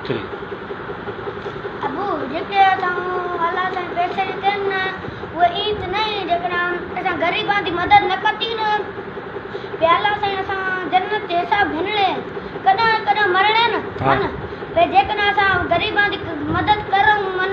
ابو جن کي اسان الله تائين پيسي ڏتي آهن نه اهي ايئن ته نه آهن جيڪڏهن اسان غريبان جي مدد نه ڪتي نه پي الله سائين اسان جنت جي حساب گهنڻي ڪڏهن نه ڪڏهن مرڻي نه من پي جيڪڏهن اسان غريبان جي مدد ڪرون من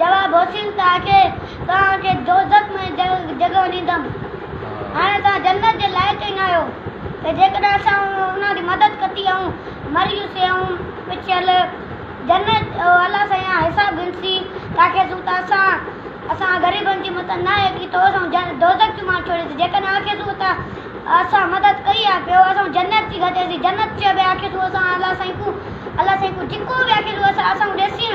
جواب، حسين ته آکي، توهان کي دوزخ ۾ جڳهه ڏيندم. هاڻي توهان جنت جي لائق ئي ناهيو ته جيڪڏهن اسان انهن جي مدد ڪتي ۽ مريون سيون پڇيل جنت او الله سائين آ حساب گهنسي ته آکي سون ته اسان اسان غريبن جي مٿان نه ايڪي تو اسان کي دوزخ جو ماڻهو ڇڙي ته جيڪڏهن آکي سون ته اسان مدد ڪئي آ پيو اسان کي جنت ٿي گهجي ٿي جنت چئبي آکي سون اسان الله سائين کون الله سائين کون جيڪو به آکي سون اسان کون ڏسين